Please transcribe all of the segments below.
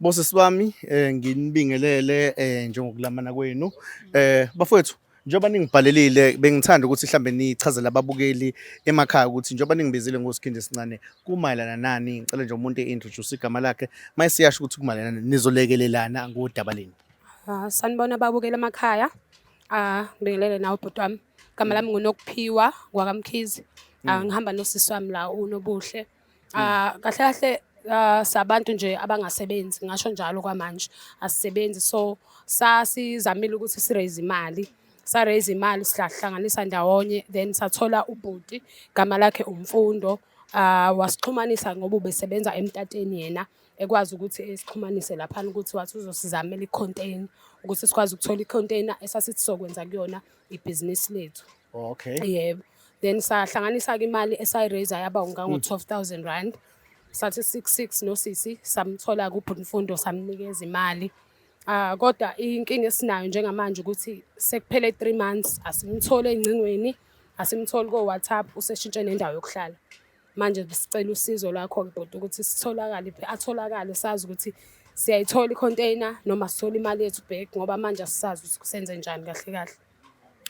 Bosisi bami eh nginibingelele eh njengokulamana kwenu eh bafowethu njengoba ningibhalelile bengithanda ukuthi mhlambe nichazele ababukeli emakhaya ukuthi njengoba ningibizile ngosikhindi esincane kumayelana nani ngicela nje umuntu eintroduce igama lakhe mayisiyasho ukuthi kumayelana nani, nizolekelelana ngodaba leni Ah, sanibona babukela emakhaya ah ngibingelele nawe bhuti wami igama lami ngunokuphiwa kwakamkhizi ah ngihamba nosisi wami la unobuhle Ah kahle kahle ah, sabantu nje abangasebenzi ngasho njalo kwamanje asisebenzi so sasizamile ukuthi siraise imali sa raise imali sihlanganisa ndawonye then sathola ubhuti gama lakhe umfundo ah wasixhumanisa ngoba ubesebenza emtateni yena ekwazi ukuthi esixhumanise lapha ukuthi wathi uzosizamela icontainer ukuthi sikwazi ukuthola icontainer esasithi sokwenza kuyona ibhizinisi lethu oh, okay yebo then sahlanganisa-ke imali esayiraiza yaba ungango-twelve thousand rand sathi six six nosisi samthola kubhutimfundo samnikeza imali Ah kodwa inkinga esinayo njengamanje ukuthi sekuphele 3 months asimthole engcingweni, asimtholi ko WhatsApp useshintshe nendawo yokuhlala. Manje sicela usizo lwakho-ke bhuti ukuthi sitholakale atholakale sazi ukuthi siyayithola i-container noma sithola imali yethu back ngoba manje asisazi ukuthi senze njani kahle kahle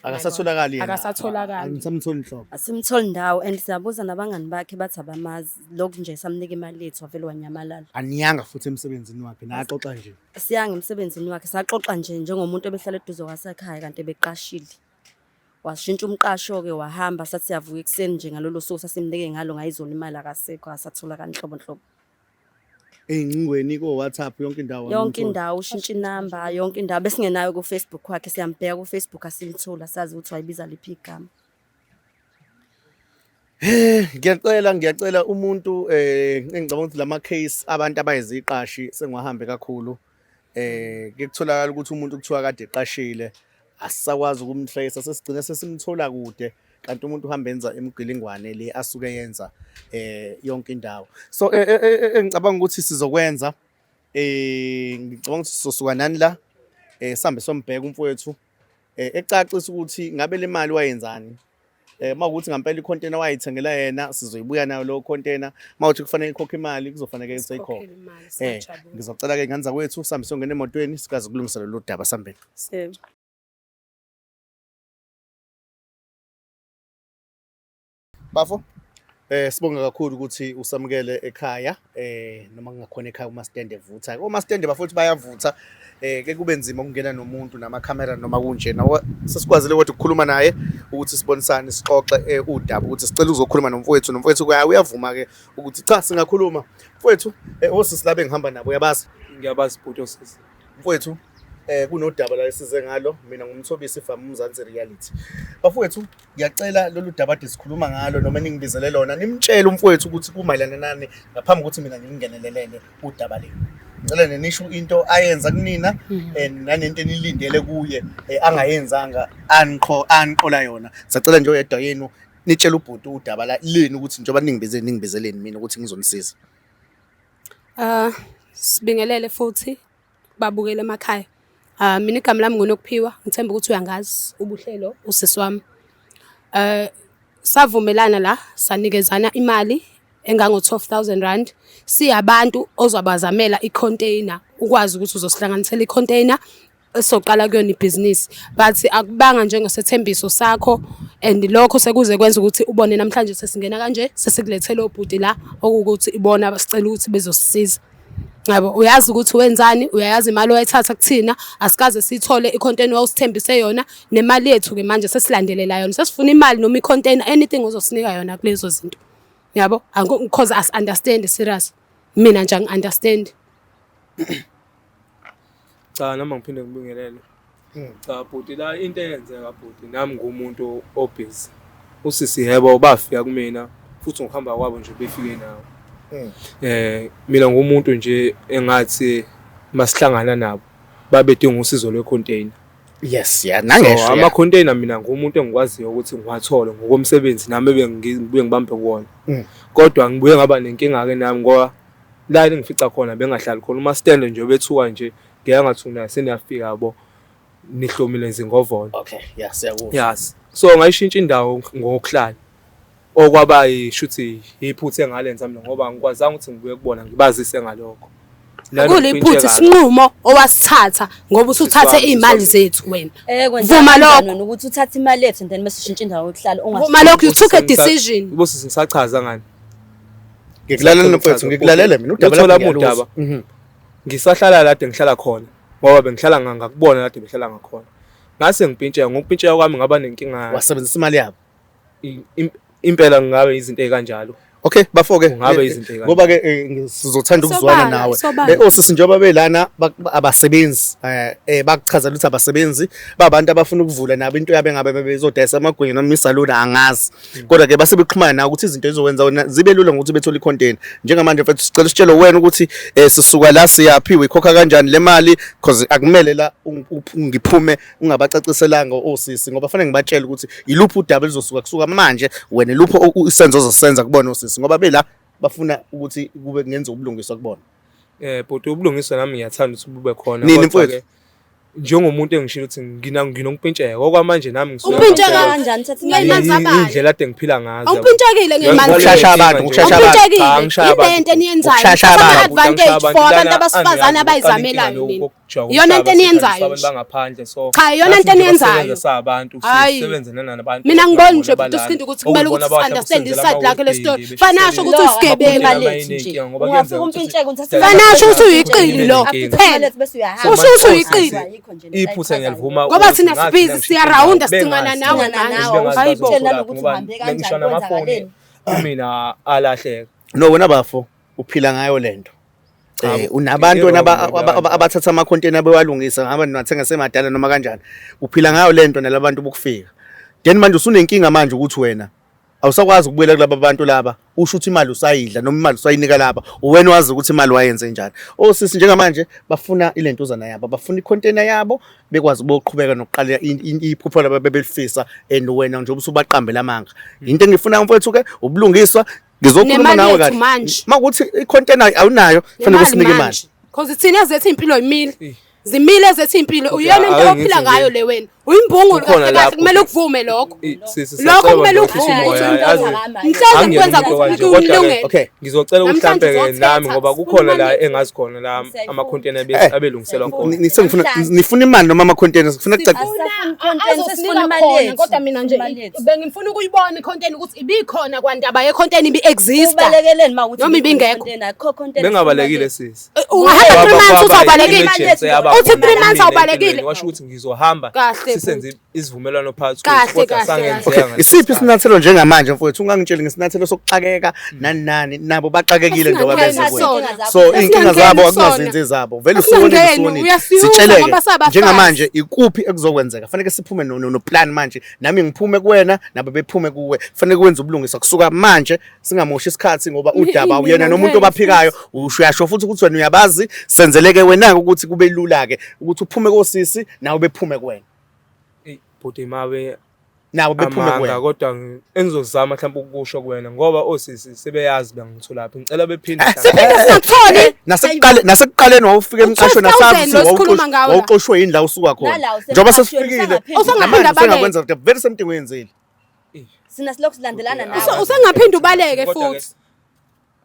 akasatholakali yena akasatholakali angisamtholi nhlobo asimtholi ndawo and siyabuza nabangani bakhe bathi abamazi lokhu nje samnika imali yethu wavele wanyamalala aniyanga futhi emsebenzini wakhe naxoxa nje siyanga emsebenzini wakhe saxoxa nje njengomuntu obehlala eduze kwasekhaya kanti ebeqashile washintsha umqasho-ke wahamba sathi siyavuka ekuseni nje ngalolo suku sasimnike ngalo ngayizona imali akasekho asathola kanhlobo nhlobo ey'ncingweni ko-whatsapp yonke indawo yonke indawo ushintsha inamba yonke indawo besingenayo kufacebook wakhe siyambheka kufacebook asimtholi asazi ukuthi wayibiza liphi igama Eh ngiyacela ngiyacela umuntu eh engicabanga ukuthi lama case abantu abayiziqashi sengiwahambe kakhulu eh kutholakala ukuthi umuntu kuthiwa kade eqashile asisakwazi ukumtrace sesigcine sesimthola kude kanti umuntu uhamba enza imigilingwane le asuke yenza eh yonke indawo so eh, eh, eh, engicabanga ukuthi sizokwenza eh ngicabanga ukuthi sizosuka nani la eh sambe sombheka umfowethu eh ecacisa ukuthi ngabe le mali wayenzani eh uma ukuthi ngampela icontainer wayithengela yena sizoyibuya nayo lo container uma uthi kufanele ikhokhe imali kuzofanele ke seyikhokhe eh ngizocela ke nganza kwethu sambe songena emotweni sikaze kulungisa lolu daba sambeni sebe bafo Eh sibonga kakhulu ukuthi usamukele ekhaya eh noma kungakhona ekhaya uma stand evutha. Uma stand bafowethu bayavutha eh ke kube nzima ukungena nomuntu nama camera noma kunje. Nawo sesikwazile ukuthi ukukhuluma naye ukuthi sibonisane sixoxe eh, udaba ukuthi sicela uzokhuluma nomfowethu nomfowethu kuya uyavuma ke ukuthi cha singakhuluma. Mfowethu eh osisi labe ngihamba nabo uyabazi. Ngiyabazi bhuti osisi. mfowethu eh kunodaba la esize ngalo mina ngumthobisi fam umzansi reality bafowethu ngiyacela lolu daba ade sikhuluma ngalo noma ningibizele lona nimtshele umfowethu ukuthi kumayelana nani ngaphambi kokuthi mina ngingenelelele udaba lenu ngicela nenisho into ayenza kunina Mhm. eh, nanento enilindele kuye eh, angayenzanga anqo anqola yona sacela nje oyedwa yenu nitshele ubhuti udaba la leni ukuthi njengoba ningibize ningibizeleni mina ukuthi ngizonisiza Sibingelele futhi babukeli emakhaya. Mina igama lami nguNokuphiwa, ngithemba ukuthi uyangazi uBuhlelo usisi wami. Savumelana la sanikezana imali engango-twelve thousand rand siyabantu ozobazamela i-container, ukwazi ukuthi uzosihlanganisela i-container. esoqala kuyona ibhizinisi but akubanga njengesethembiso sakho and lokho sekuze kwenza ukuthi ubone namhlanje sesingena kanje sesikulethele obhuti la okuwukuthi ibona basicela ukuthi bezosisiza yabo uyazi ukuthi wenzani uyayazi imali oyithatha kuthina asikaze sithole icontainer osithembise yona nemali yethu ke manje sesilandelela yona sesifuna imali noma icontainer anything ozosinika yona kulezo zinto yabo because as understand serious mina nje angi understand Cha nami angiphinde ngibingelele. Hmm. Cha bhuti la into eyenzeka bhuti nami ngumuntu obhizi. Usisi yebo bafika kumina futhi ngokuhamba kwabo nje befike nawo. Hmm. Eh mina ngumuntu nje engathi masihlangana nabo babedinga usizo lwecontainer. Yes yeah nangesho. So, ama container mina ngumuntu engikwaziyo ukuthi ngiwathole ngokomsebenzi nami bengibambe kuwona. Hmm. Kodwa ngibuye ngaba nenkinga ke nami ngoba La eningifica khona bengahlali khona uma stand nje bethuka nje ngeke ngathi unayo seniyafika yabo nihlomile nzingovolo okay yeah siyakuzwa yes so ngayishintsha indawo ngokuhlala okwaba ishuthi iphuthe ngalenza mina ngoba angikwazanga ukuthi ngibuye kubona ngibazise ngalokho kuliphutha isinqumo owasithatha ngoba usuthathe izimali zethu wena eh, vuma lokho ukuthi uthathe imali yethu and then mesishintshe indawo yokuhlala ungasho vuma lokho you took a decision ubusisi ngisachaza ngani Ngikulalele mfethu, ngikulalele mina udaba Luthola lakho udaba. ngiyaluza. Mhm. ngisahlala lade ngihlala khona ngoba bengihlala nga- ngakubona lade behlala ngakhona ngase ngipintsheka ngokupintsheka kwami ngaba nenkinga Wasebenzisa imali yabo. i- im- impela ngabe izinto ezikanjalo Okay, bafo-ke. Kungabe Eh, eh, izinto ey'kanjalo. Ngoba ke eh, ngi- sizothanda ukuzwana Sobala, nawe. sobala. Eh, Osisi njengoba belana ba- ba- abasebenzi eh, eh bakuchazela ukuthi abasebenzi babantu abafuna ukuvula nabo into yabo engabe bezodayisa amagwinya noma isaluni angazi. kodwa ke base bexhumana nawe ukuthi izinto ezokwenza wena zibe lula ngokuthi bethole icontainer njengamanje mfethu sicela usitshele wena ukuthi eh sisuka la siyaphi uyikhokha kanjani le mali because akumele la ngiphume ungabacaciselanga osisi ngoba fanele ngibatshele ukuthi yiluphi udaba lizosuka kusuka manje wena luphi isenzo ozosenza kubona osisi ngoba bela bafuna ukuthi kube ngenza ubulungiswa kubona eh bhuti ubulungiswa nami ngiyathanda ukuthi bube khona kodwa ke njengomuntu engishilo ukuthi ngina nginompintsheka okwamanje nami ngisuka Umpintsheka kanjani thatha ngeymanzi abayo. indlela ade ngiphila ngazo Awumpintshekile ngeymanzi. Ukushasha abantu, ukushasha abantu. Umpintshekile. Ah, ngishaya abantu. Yilento eniyenzayo. Ukushasha Thatha abantu. advantage Abantu for abantu lana abasifazane angiyazi, abayizamelayo uqala nina. inkinga yokujaha Iyona into umhlaba, eniyenzayo. abantu bangaphandle so Cha, iyona into nathi nje eniyenzayo. basebenza sabantu Hhayi. sisebenze nanabantu Mina ngibona nje bhuti uSkhindi ukuthi kumele ukuthi si-understand iside lakhe le story. Fana asho ukuthi usigebengu alethi nje. Ungafika umpintsheke uthi Fana asho ukuthi uyiqili lo. Phela bese uyahamba. Usho ukuthi uyiqili. Iphutha ngiyalivuma. Ngoba thina sibizi siyarawunda sicingana nawe nawe. Hayibo. Ngisho namafoni kumina alahleka. No wena bafo uphila ngayo lento. Eh, unabantu abathatha amakhonteni abewalungisa ngaba niwathenga semadala noma kanjani uphila ngayo lento nalabantu bokufika then manje usunenkinga manje ukuthi wena awusakwazi ukubuyela kulaba bantu laba usho ukuthi imali usayidla noma imali usayinika laba uwena wazi ukuthi imali wayenze njani osisi oh, njengamanje bafuna ilentuzana yabo bafuna icontainer yabo bekwazi ukuqhubeka nokuqala iphupho laba bebelifisa and wena nje ubusubaqambela amanga into engifuna mfowethu ke ubulungiswa ngizokhuluma nawe kahle makuthi icontainer awunayo fanele usinike imali because thina zethu impilo yimile zimile ezethi impilo Okay, uyona into ake ophila ngithi ngayo nje, le wena uyimbungulu kukhona kahle kahle lapho kumele ukuthi- ukuvume lokho I- sisi, lokho sacela kumele bandla, ukuvume umoya, ukuthi yazi, umntwana wami mhlawumbe angiyena kwenza umuntu ukuthi kanje, kodwa ke- kulungele okay ngizocela ukuthi Namhlanje mhlampe-ke uzothetha, nami ngoba kukhona la umanike. engazi khona la Msayifuni. amakhonteni abe- Eh, abelungiselwa khona Ni- ni- sengifuna- Namhlanje. nifuna imali noma ama-container sifuna kucaca azosinika khona kodwa mina nje bengifuna ukuyibona ikhonteni ukuthi ibikhona kwandaba yekhonteni ibi-exista Ubalekeleni ma ukuthi Noma ibingekho. Bengabalekile sisi. Eh, ungahamba three months uzawubalekile uthi three months awubalekile washo ukuthi ngizohamba sisenze isivumelwano phakathi kodwa sangenzeka isiphi isinyathelo njengamanje mfowethu ungangitsheli ngesinyathelo sokuxakeka hmm. nani nani nabo baxakekile njengoba benze so inkinga zabo akunazinzi zabo vele usuwonile sitsheleke njengamanje ikuphi ekuzokwenzeka kufanele siphume no plan manje nami ngiphume kuwena nabo bephume kuwe kufanele kwenze ubulungisa kusuka manje singamoshi isikhathi ngoba udaba uyena nomuntu obaphikayo ushuyasho futhi ukuthi wena uyabazi senzeleke wena ukuthi kube lula ke ukuthi uphume kosisi nawe bephume kuwena bhuti mabe nabo bephume kuwena kodwa engizozama mhlawumbe ukusho kuwena ngoba osisi sebeyazi bangitholaphi ngicela bephinde eh, singatholi eh, nasekuqale nasekuqaleni wawufika emqasho nasazi wawuxoshwe yini la usuka khona njengoba sesifikile usungaphinda balekwenza very same thing wenzile Sina silokhu silandelana nawe. Usa- Usengaphinde ubaleke Kodwa ke- futhi.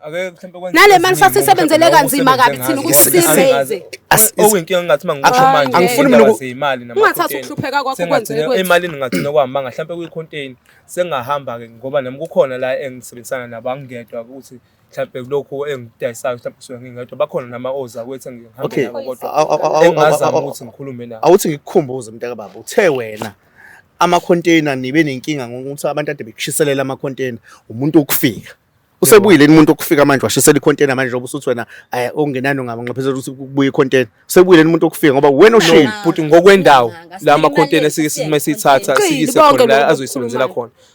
Ake mhlawumbe kwenze Nale mali eziningi sasisebenzele ngoba kanzima kabi thina ukuthi ngazi. sisize. Ngazi. As- is- Okuyinkinga engathi uma ngiqasha Angifuni manje angifuni mina indaba uku- zeyimali nama- Ungathathi container. ukuhlupheka kwakho Sengathi kwenzeke ne- kwethu. emalini ngathina kwamanga mhlawumbe kwi-contain sengahamba ke ngoba nami kukhona la engisebenzisana nabo angingedwa ukuthi mhlawumbe kulokhu engidayisayo mhlawumbe kusuke ngingedwa bakhona nama oza kwethu engihambe Okay. nabo kodwa Aw- aw- aw- aw- aw- engazama aw- aw- ukuthi ngikhulume nabo awuthi ngikukhumbuze mntaka baba uthe wena ama-container nibe nenkinga ngokuthi abantu ade bekushiselela ama-container umuntu ukufika usebuyile yini umuntu okufika manje washisela i-container manje njengoba usuthi wena eh, okungenani ungabanxephezela ukuthi kubuye i-container usebuyile yini umuntu okufika ngoba wena oshile Bhuti ngokwendawo Nganga, la ma-container sibhekene, sike sibhekene, sime siyithatha sibhekene. siyise Qili, khona bonke la lokhu azoyisebenzela okukhulumayo. khona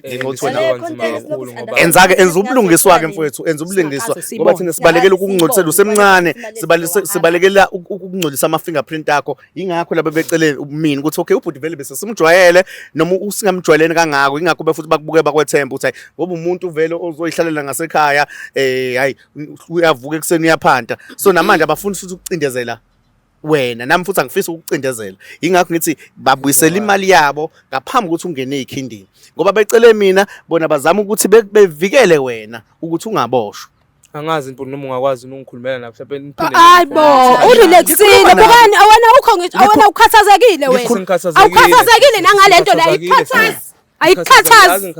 ngenxa yokuthi wena Ngaleyo context Kakhulu ngoba- lokusunderstand- enza-ke enza ubulungiswa-ke mfowethu enza ubulungiswa Siyabonga. ngoba thina sibalekela Yazi, ukungcolisela siyabonga. usemncane Sibalekela sibale- ukungcolisela sibalekela uku- ukungcolisa ama-fingerprint akho yingakho laba becele mina ukuthi okay ubhuti vele bese simjwayele noma u- singamjwayeleni kangako yingakho be futhi bakubuke bakwethemba ukuthi hayi ngoba umuntu uvele ozoyihlalela ngasekhaya um hayi uyavuka ekuseni uyaphanta so namanje abafuni futhi ukucindezela wena nami futhi angifisi ukucindezela ingakho ngithi babuyisela imali yabo ngaphambi ukuthi ungene ekhindini ngoba becele mina bona bazama ukuthi bevikele wena ukuthi ungaboshwa angazi mpundu noma ungakwazi ungikhulumela na mhlawumbe niphinde hayi bo urelaxile bukani awena ukho awena ukhathazekile wena awukhathazekile nangalento la ikukhathaza ayikukhathazi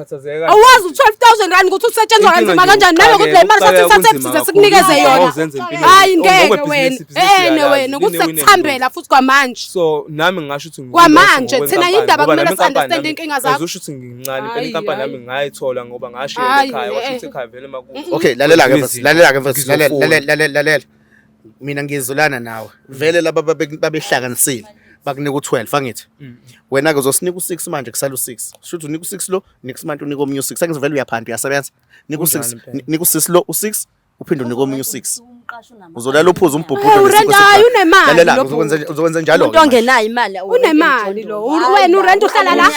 awazi u-12000 rand ukuthi usetshenzwa kanzima kanjani nalokuthi le mali sathi sathembisize sikunikeze yona hayi ngeke wena ene wena ukuthi sekuthambela futhi kwamanje so nami ngingasho ukuthi kwamanje thina yindaba kumele si-understand inkinga zakho usho ukuthi ngincane phela inkampani yami ngayithola ngoba ngashiya ekhaya washo ukuthi ekhaya vele makuthi okay lalela-ke lalela-ke lalela lalela mina ngiyezulana nawe vele laba babe- babehlanganisile bakunika u-12 angithi wena-ke uzosinika u-6 manje kusala u-6 shuthi unika u-6 lo next month unika omunye u-6 angithi vele uyaphanda uyasebenza nika u-6 Kunjalo impela. ni- nika u-6 lo u-6 uphinde unika omunye u-6 uzolala uphuza umbhubhudo Hey, ngesiko urenta, hhayi, sekhaya. unemali Lalela, lo uzokwenza- bhuti. uzokwenza njalo umuntu ongenayo imali unemali lo wena urenta uhlala la Uyazi,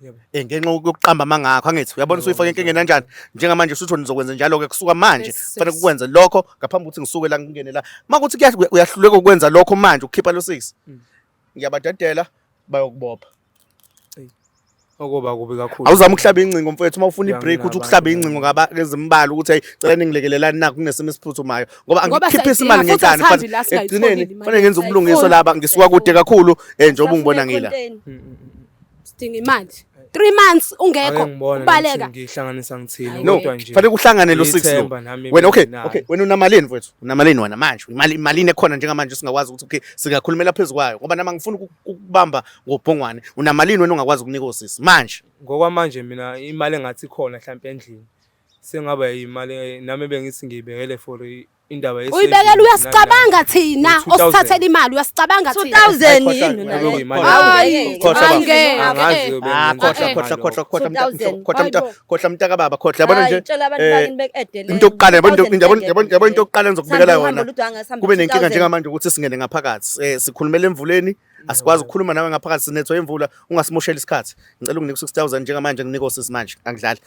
Yebo. Eh ngenxa yokuqamba amangakho angithi uyabona usuyifaka enkingeni kanjani njengamanje usutho nizokwenza njalo ke kusuka manje Yes, sis. kufanele kukwenze lokho ngaphambi kokuthi ngisuke la ngingene la makuthi kuya- uya- uyahluleka ukwenza lokho manje ukukhipha lo six Mm. ngiyabadedela bayokubopha Okoba kubi kakhulu. awuzama ukuhlaba ingcingo mfowethu uma ufuna Uyangena ibreak uthi abantu ukuhlaba ingcingo bani. ngaba ezimbalwa ukuthi hey cela ningilekelelani nakho kunesimo esiphuthumayo ngoba Ngoba angikhiphisi siyayidinga, imali futhi ngenkani asithandi la singayitholi ekugcineni imali. fanele ngenze ubulungiswa Ayifuni. laba ngisuka kude kakhulu eh njengoba ungibona ngila Mm, mm, mm. sidinga imali three months ungekho ubaleka ngihlanganisa ngithini no fanele kuhlangane lo six lo wena okay okay wena unamalini mfowethu unamalini wena manje imali imalini ekhona njengamanje singakwazi ukuthi okay singakhulumela phezulu kwayo ngoba nama ngifuna ukubamba ngobhongwane unamalini wena ungakwazi ukunika osisi manje ngokwamanje mina imali engathi khona mhlawumbe endlini sengaba imali nami bengithi ngiyibekele for indaba yesevisi uyibekela uyasicabanga thina osithathela imali uyasicabanga thina 2000 yini khohla mntaka baba khohla yabona nje into yokuqala yabona into yokuqala engizokubekela yona kube nenkinga njengamanje ukuthi singene ngaphakathi eh, sikhulumela emvuleni asikwazi ukukhuluma nawe ngaphakathi sinethwa imvula ungasimoshela isikhathi ngicela unginike u-6000 njengamanje nginike osisi manje angidlali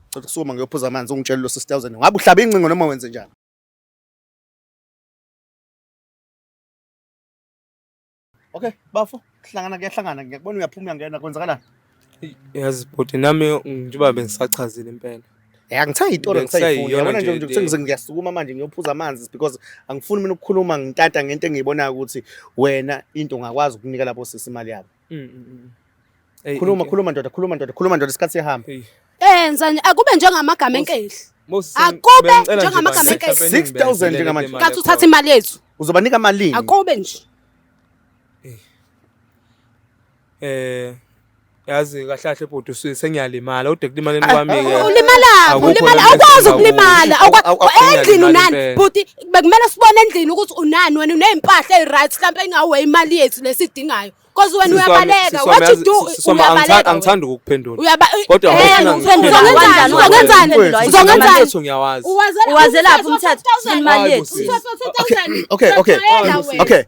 Cela ukusuma ngiyophuza amanzi ungitshele lo 6000. Ngabe uhlaba incingo noma wenze njani? Okay, bafo, sihlangana kuyahlangana ngiyakubona uyaphuma uyangena kwenzakalani? Yazi bhuti nami njengoba bengisachazile impela. Ya ngithenga itolo Bengisayiyona ngisayifuna. Yabona nje nje into ukuthi le. ngize ngiyasukuma manje ngiyophuza amanzi because angifuni mina ukukhuluma ngitata ngento engiyibonayo ukuthi wena into ungakwazi ukunika labo sisi imali yabo. Mm, mm, mm. Ey, khuluma inke- khuluma ndoda khuluma ndoda khuluma ndoda isikhathi siyahamba Ey, enza nje akube njengamagama enkehli Moses, Akube bengicela nje njengamagama bandla, enkesi. mhlawumbe 6,000 ngibekezelele njengamanje. imali kathi uthatha ekhona. imali yethu uzobanika malini akube nje Eh, yazi kahle kahle bhuti usuke sengiyalimala ude kulimala imali wami-ke. ulimala Akukho ulimala lento awukwazi esingakusho. ukulimala Awu- awu- awu- endlini unani Imali bhuti bekumele sibone endlini ukuthi unani wena uney'mpahla eyi-right mhlawumpe ingawe imali yethu lesidingayo cause wena uyabaleka what you do uyabaleka angithandi ukukuphendula uyaba kodwa uzongenzani uzongenzani uwazelaphi umthetho imali yethu okay okay okay okay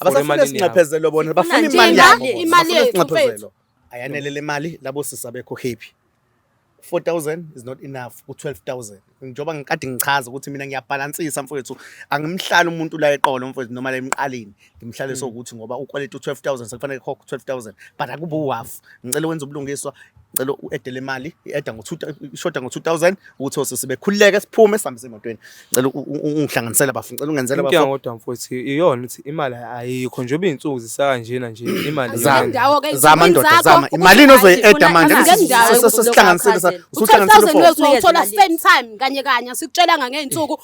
abasafuna sinxephezelo bona bafuna imali yabo imali yethu ayanele le mali labo sisa bekho happy 4000 is not enough ku 12000 njengoba ngikade ngichaza ukuthi mina ngiyabhalansisa mfowethu angimhlali umuntu la eqolo mfowethu noma la emqaleni ngimhlale sokuthi ngoba ukwaleta u 12000 sekufanele khokho 12000 but akubu half ngicela wenza ubulungiswa cela u-edele imali i-eda ishoda ngo-two thousand ukuthi ose sibekhululeke siphume sihambe semotweni cela ungihlanganisela bafuni cela ungenzela inkinga kodwa mfowethu iyona ukuthi imali ayikho njengoba iy'nsuku zisakanjena nje imali zama ndoda zama imalini ozoyi-eda manje sihlanganisele uthola same time kanye kanye asikutshelanga ngey'nsuku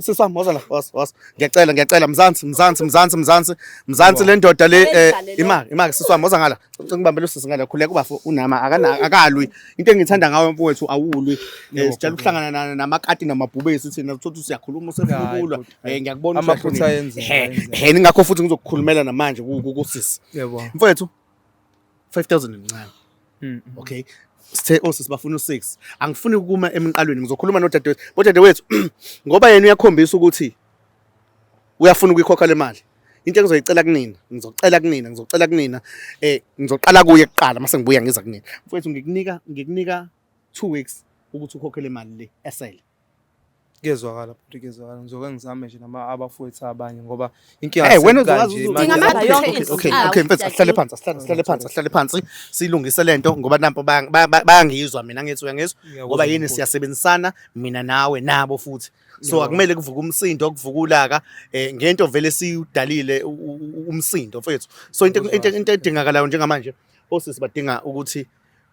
sisi wami woza la was was ngiyacela ngiyacela mzansi mzansi mzansi mzansi mzansi le ndoda le eh, imali imali sisi wami woza ngala ngicela ngibambele usisi ngala khuleka ubafo unama akana akalwi into engithanda ngawe mfowethu awulwi Eh, sijala ukuhlangana na- namakati namabhubesi thina uthothi siyakhuluma usefukulwa Eh, ngiyakubona Amaphutha uhlakaniphile. ayenzeka, He, ayenzeka. he ningakho futhi ngizokukhulumela namanje ku- ku- kusisi yebo mfowethu 5000 incane mm, mm. okay sithe oh sibafuna u6 angifuni ukuma emqalweni ngizokhuluma nodadewethu bodadewethu ngoba yena uyakhombisa ukuthi uyafuna ukuyikhokha le mali into engizoyicela kunina ngizocela kunina ngizocela kunina eh ngizoqala kuye kuqala mase ngibuya ngiza kunina mfowethu ngikunika ngikunika 2 weeks ukuthi ukhokhe le mali le esele Kuyezwakala futhi kuyezwakala ngizoke ngizame nje nama abafowethu abanye ngoba inkinga Hey, wena asikanje, uzokwazi imali- Dinga ama- Okay, okay, okay, Ah, okay, mfethu, asihlale phansi asihlale asihlale phansi asihlale phansi silungise lento ngoba nampo baya- baya- baya- bayangizwa mina ngithi uyangizwa Ngiyakuzwa ngoba yini mkhulu. siyasebenzisana mina nawe nabo futhi so Ngiyabona. akumele kuvuke umsindo kuvuke ulaka eh ngento vele siyudalile u- u- u- umsindo mfethu so into Ngiyakuzwa into kahle. into edingakalayo njengamanje osisi badinga ukuthi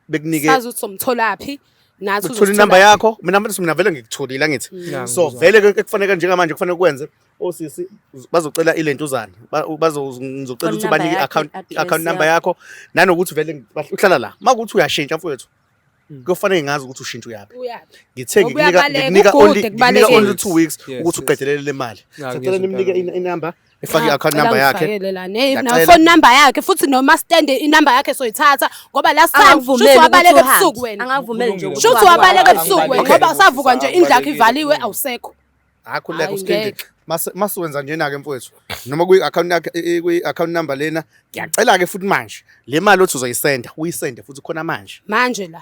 bekunike sazi ukuthi somtholaphi nathi uthola inamba yakho mina mfana mina vele ngikutholile angithi mm. so vele ke kufanele njengamanje kufanele kwenze osisi bazocela ilentuzana bazozocela ukuthi bani i-account i-account number yakho nanokuthi vele uhlala la makuthi uyashintsha mfowethu mm. kuyofanele ngazi ukuthi ushintsha uyaphi ngithe ngikunika only 2 weeks ukuthi uqedelele le mali sacela nimnike inamba efake i-account number yakhe phone number yakhe futhi noma stand inumber yakhe soyithatha ngoba last time shuthi wabaleka ebusuku wena shuthi wabaleka ebusuku wena ngoba usavuka nje indlu yakhe ivaliwe awusekho akhuleka uskindile masiwenza njena-ke mfowethu noma kwi-account yakhe kwi-account number lena ngiyacela-ke futhi manje le mali othi uzoyisenda uyisende futhi khona manje manje la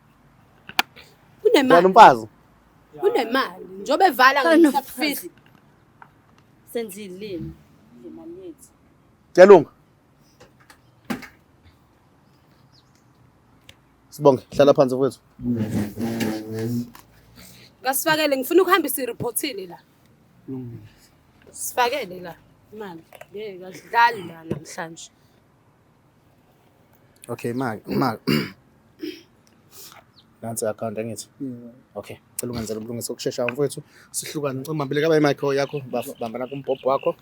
Unemali. Umfazi. Unemali. Njobe vala ngisafisi. Senzilini. Imali yethu. Chelunga. Sibonge, hlala phansi mfowethu. Ngasifakele ngifuna ukuhambisa ireportile la. Sifakele la imali. Ngeke akudlali la namhlanje. Okay manje manje nansi account angithi mm. okay cela ungenzele ubulungisa okushesha mfowethu sihlukane ngicela mabile kaba imic yakho bamba nakho umbhobho wakho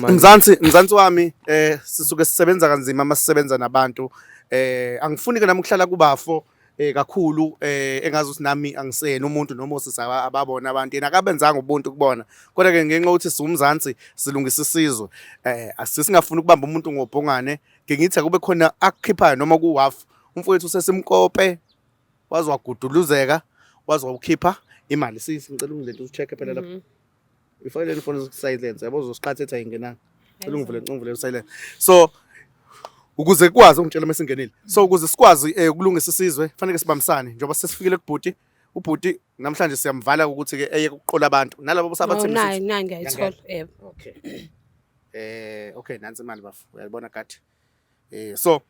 mzansi mzansi wami eh sisuke sisebenza kanzima masisebenza nabantu eh angifuni ke nami ukuhlala kubafo eh kakhulu eh engazi ukuthi nami angisena umuntu noma osisaba ababona abantu yena akabenzanga ubuntu kubona kodwa ke ngenxa ukuthi siwumzansi silungisa isizwe eh asisingafuni ukubamba umuntu ngobhongane ngingithi akube khona akukhiphayo noma ku half umfowethu sesimkope wazwaguduluzeka wazwawukhipha imali sisi ngicela ungilento ucheck phela lapha mhm. Ifayile lifone silence yabo uzosiqhathetha ingenanga. Cela ungivule ungivule silence. So ukuze kwazi ungitshela uma singenile. So ukuze sikwazi eh, ukulungisa isizwe kufanele sibambisane njengoba sesifikile kubhuti ubhuti namhlanje siyamvala ukuthi ke eye kuqola abantu nalabo bosabathemisa. Nayi nayi ngiyayithola. Yebo. Okay. Eh okay nansi imali bafo. Uyayibona kade. Eh so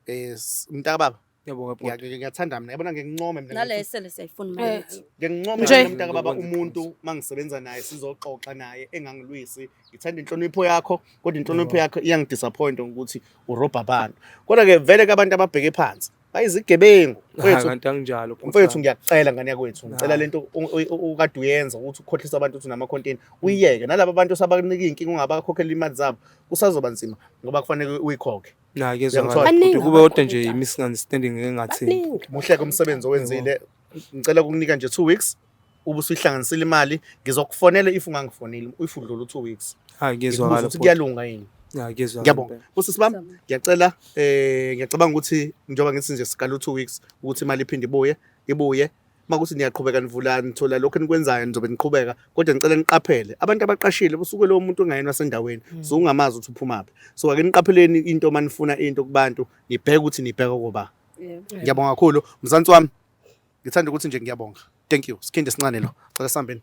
eh mntakababa Yebo ke bhuti. ngiyathanda mina yabona ngincome mina nale esele siyayifuna imali Eh, yethu ngincome Nje. mina mntakababa Ngizokwenzela umuntu mangisebenza naye sizoxoxa naye engangilwisi ngithanda inhlonipho yakho kodwa inhlonipho yakho iyangidisappoint ukuthi urobha abantu kodwa ke vele ke abantu ababheke phansi bayizigebengu mfowethu kanti anginjalo mfowethu ngiyakucela ngane yakwethu ngicela lento ukade uyenza ukuthi ukhohlisa abantu ukuthi nama content uyiyeke nalabo bantu sabakunika inkinga ungabakhokhela imali zabo kusazoba nzima ngoba kufanele uyikhokhe nakezwakala kube kodwa nje i misunderstanding engathi muhle komsebenzi owenzile ngicela ukukunika nje 2 weeks ubusuyihlanganisile imali ngizokufonela if ungangifoneli if udlula u2 weeks hayi ngiyezwakala ukuthi kuyalunga yini hayi ngiyezwakala ngiyabonga usisi bami ngiyacela eh ngiyacabanga ukuthi njengoba ngithi nje siqala u2 weeks ukuthi imali iphinde ibuye ibuye makuthi niyaqhubeka nivula nithola lokho enikwenzayo nizobe niqhubeka kodwa ngicela niqaphele abantu abaqashile kusuke lowo muntu ongayena sendaweni hmm. so ungamazi ukuthi uphumaphi so ake niqapheleni into uma nifuna into kubantu nibheke ukuthi nibheke koba ngiyabonga kakhulu mzansi wami ngithanda ukuthi nje ngiyabonga thank you sikhindi sincane lo cela sihambeni